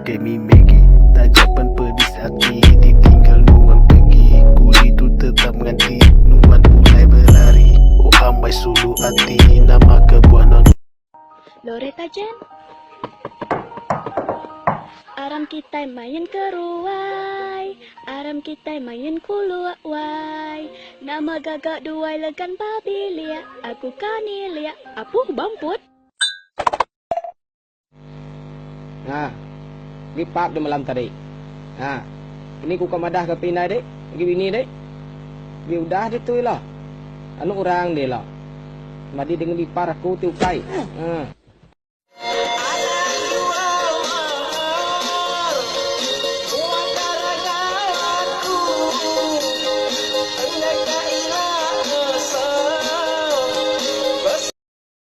Demi Maggie Taja pen pedis ati Ditinggal nuan pegi Kuli tu tetap nganti Nuan pulai belari Oh ambai sulu ati Nama kebuah no di. Loretta Jen Aram kitai main keruai Aram kitai main kuluk wai Nama gaga duai legan babilik Aku kani lik Apuh bamput. Nah. Ni part di malam tadi. Nah. Ini ku ka madah ka pi indai dik, agi bini dik. Bi udah ditu ila. Anu orang dia ila. Madi dengan ipar aku ti ukai. Nah.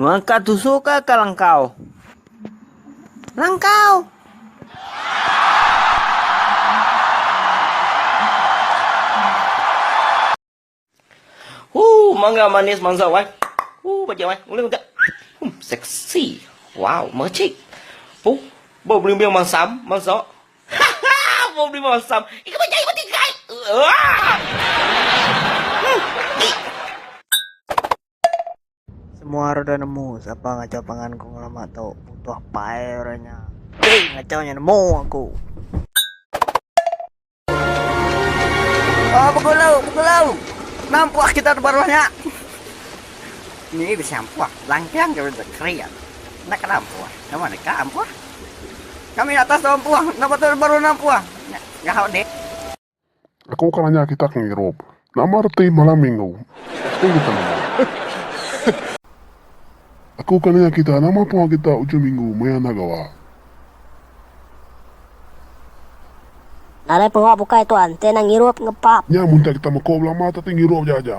Ngangkat tusuk ka ka langkau. Langkau. Huh, mangga manis mansa wai. Huh, bajak wai. Ulih udah. Hmm, seksi. Wow, mercik. Huh, bau beli biang mansam, mansa. Bau beli mansam. Ika bajak ikut ikai. Wah. Semua ora udah nemu sapa ngacau pangan ku ngelama tu. Butuh pai ora nya. Hei, ngacau nya nemu aku. Ah, begulau, begulau. Nampak kita di bawah nya. Ni bisa ampuh. Langkang ke bisa kerian. Nak kena ampuh. Nama nak kena ampuh? Kami atas tu ampuh. Nama tu baru ampuh. Ngahau dek. Aku ka nanya kitak ngirup. Nama reti malam minggu? Reti kita nama. Aku ka nanya kita nama pengawa kita ujung minggu maya enda gawa. Nadai pengawa bukai tuan, enti enda ngirup, ngepap. Nya mun kita meko belama teti ngirup aja aja.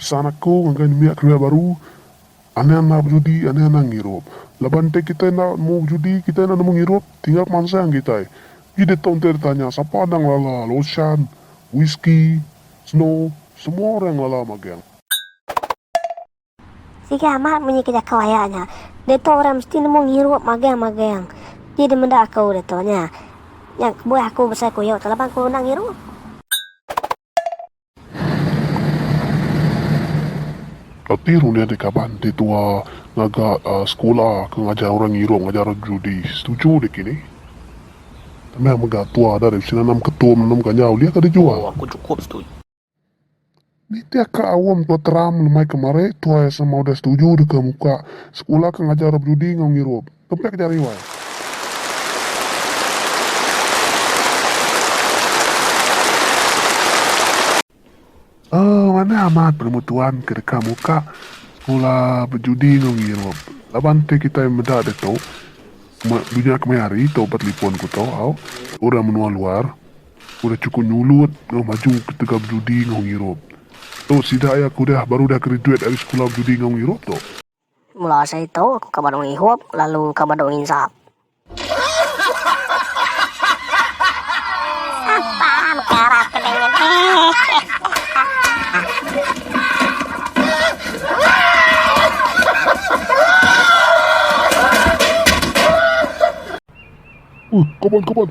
Pesan aku ngagai nembiak kereja baru, anang enda bejudi, anang enda ngirup. Laban enti kitai enda nemu bejudi, kitai enda nemu ngirup, tinggal pemansang kitai. Uji ditu enti ditanya sapa enda ngelala lochan, whisky, snow, semua orang ngelala magang. Sigi amat munyi ke jakau aya nya. Diatu orang mesti nemu ngirup magang-magang. Ti dimeda aku diatu nya. Nya kebuah aku besai kuyo tu laban aku enda ngirup. Ati runding ati kaban ti tua ngaga sekula ke ngajar orang ngirup ngajar orang judi. Setuju deki ni. Tambah mega tua dah deh bisi nanam ketum, nanam ganja ulih ka dijua. Ooh aku cukup setuju. Nitih ka aum tua teram lemai ke mari tuai sama udah setuju deka muka sekula ke ngajar orang bedudi enggau ngirup. Kempi ke jari wai. Aaa manah amat penemu tuan ke deka muka sekula bedudi enggau ngirup. Laban ti kitai meda ditu dunya kemaya hari tu ba telipon ku tu au orang menua luar Udah chukup nyulut enggau maju ketegal bejudi enggau ngirup. Tu sida iya ke udah baru udah graduate ari sekula bejudi enggau ngirup tu. Mula asa itu aku ka badu ngihup lalu ka badu nginsap. Sapa mekara ke dengan hehehe. Ui, kaban kaban.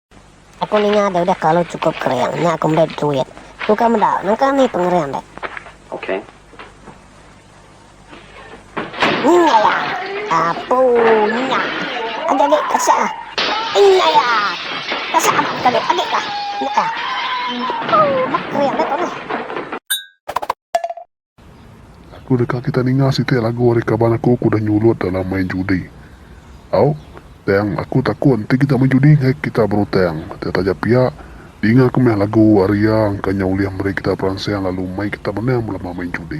Aku ninga deh udah kelalu cukup kering nya aku meda duit. Ku ka meda, nangka mih pengering deh. Okay. Nyaya. Apu nya. Agi agi kasih ah. Nyaya. Kasih ah agi agi kah. Nya ah. Mak kering deh tu nah. Lalu deka kita ninga siti lagu ari kaban aku ke udah nyulut dalam main judi. Au, tang aku takut enti kita main judi enggai kita berutang. Tang taja pia, ninga ke meh lagu ari iya engka nyau ulih meri kita peransang lalu mai kita menang belama main judi.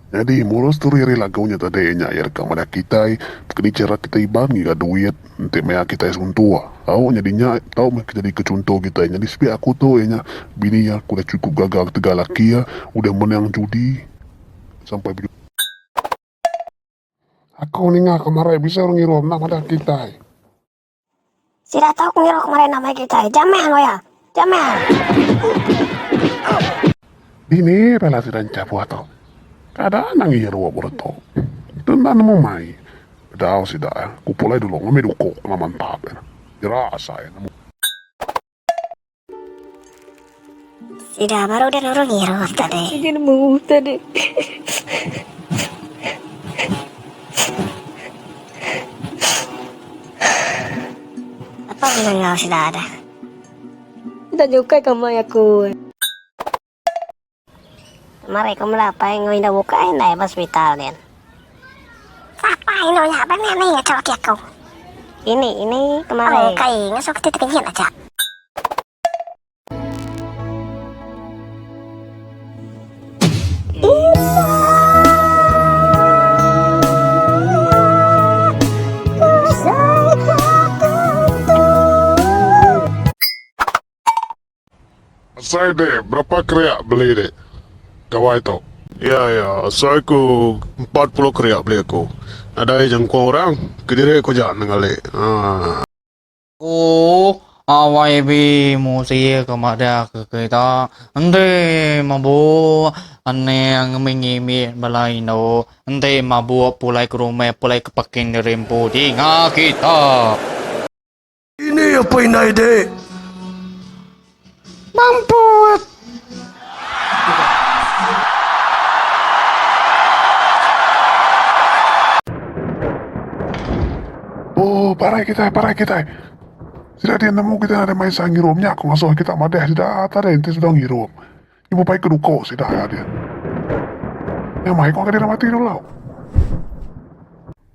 Nyadi, murus duri ari lagu nya tadi nya iya deka madah kitai keni chara kitai iban ngiga duit enti maya kitai suntuk. Au nyadi nya tau meh nyadika chunto kitai. Nyadi sebiak aku tu iya nya bini iya ke udah chukup gaga ketegal laki iya udah menang judi sampai bejudi. Aku ninga ke marai bisi orang ngirum enda madah kitai. Sida tau ngiruh meri nama kitai, Jamil wea! Jamil! Dini bala sida enchah buah tu? Kada anang ngiruh buru tu. Tu enda nemu mai. Bedau sida, ku Pulai dulu ngambi duku ke laman tap. Jerak asai nemu. Sida baru udah nurung irup tadi. Sida nemu tadi. Apa menengah sida ada? Sida nyukai kamai aku. Mari ku mela apai enggau indu buka ai indai ba sepital din. Sapa indu nya ba nya ni atur ati aku. Ini ini kemari. Oh kai ngasuh keti tekenyit aja. Asai dek berapa keriak beli dek gawai tu. Ya ya asai ku empat puluh keriak beli aku nadai jangkau orang kediri ku aja nenggali haa. Ooh yb musi ke madahka kita enti mabuk aning ngemik ngimik bala indu enti mabuk pulai ke rumah pulai ke parking diri empu dinga kita. Ini apa indai dek. Mamput. Oh, parai kita, parai kita. Sida dia nemu kita ada main sang ngirup nya, aku ngasuh kita madah sida, tak ada enti sudah ngirup. Nya bebai ke duko sida iya dia. Nya mai ko ke diri mati dulu.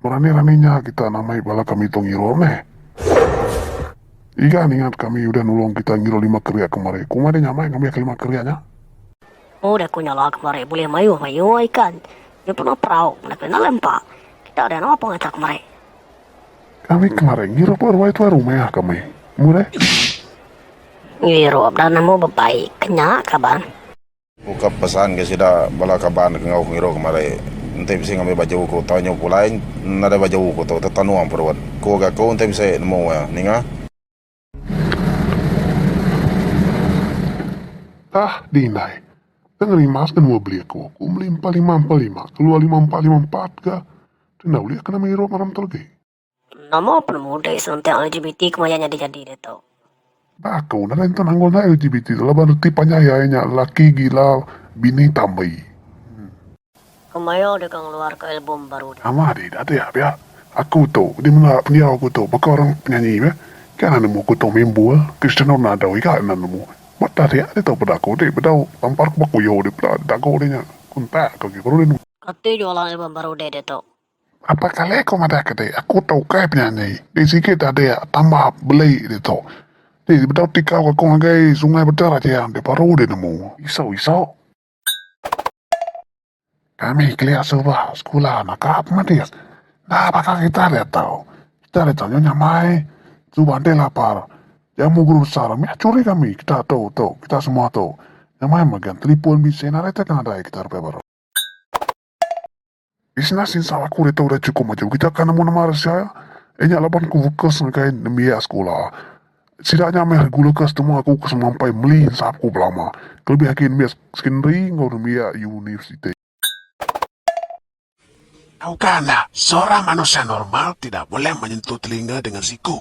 Berani rani nya kita namai bala kami tu ngiruh meh. Iga ningat kami udah nulong kita ngiruh lima keria kemari. Kuma dia nyamai ngambi ke lima keria nya. Udah aku nyala kemari bulih mayuh mayuh ikan. Nya pun udah perau. Kena kena lempa. Kita udah napa ngaca kemari. Kami kemari ngirup aruai tuai rumah kami. Murih. Ngirup dah nemu bebai ke nya kaban. Ku ka pesan ke sida bala kaban ke enggau ku ngirup kemari. Enti bisi ngambi baju ku tau nyu pulai nadai baju ku tu tetanung perut. Ku ga ku enti bisi nemu iya. Ninga. Tah dih indai. Enda ngerimas ke nua beli aku. Aku meli empat lima empat lima keluar lima empat lima empat ga. Tu enda ulih kena meri rob maram tu agi. Nama penemu dek serentak LGBT ke maya nyadi jadi ditu. Ba aku nadai enda nanggul enda LGBT tu laban reti panjai ai nya lelaki gila bini tambi. Ku Mayo deka ngeluarka album baru nya. Amah deh dak tea pia aku tu di mela pendiau aku tu baka orang penyanyi be ga nan nemu aku tu main bul Cristiano Ronaldo ega nan nemu ba dah tea ditu peda aku deh bedau tampar ke ba kuyo deh peda dago deh nya kontak ke agi baru deh nemu. Ati jualan album baru deh ditu. Apai kali aku madah ke deh aku tu ukai penyanyi deh sigi dah deh tambah beli ditu deh bedau tikau ke aku ngagai sungai beda rajang deh baru deh nemu isok isok. Kami kelia suba sekula naka pemadis enda baka kita diatu. Kita diatu nyau nyamai suba enti lapar jamu guru besar meh curi kami kita tu tu kita semua tu nyamai mega telefon bisi nadai tega nadai kita depei baru. Isna sinsa laku ditu udah chukup maju kita ka nemu nama re sia inya laban ku fokus ngagai nembiak sekula. Sida nya meh regula ke setemu aku ke semampai meli ensap ku belama kelebih agi nembiak sekondari enggau nembiak universiti. Tauka enda, seorang manusia normal tidak boleh menyentuh telinga dengan siku,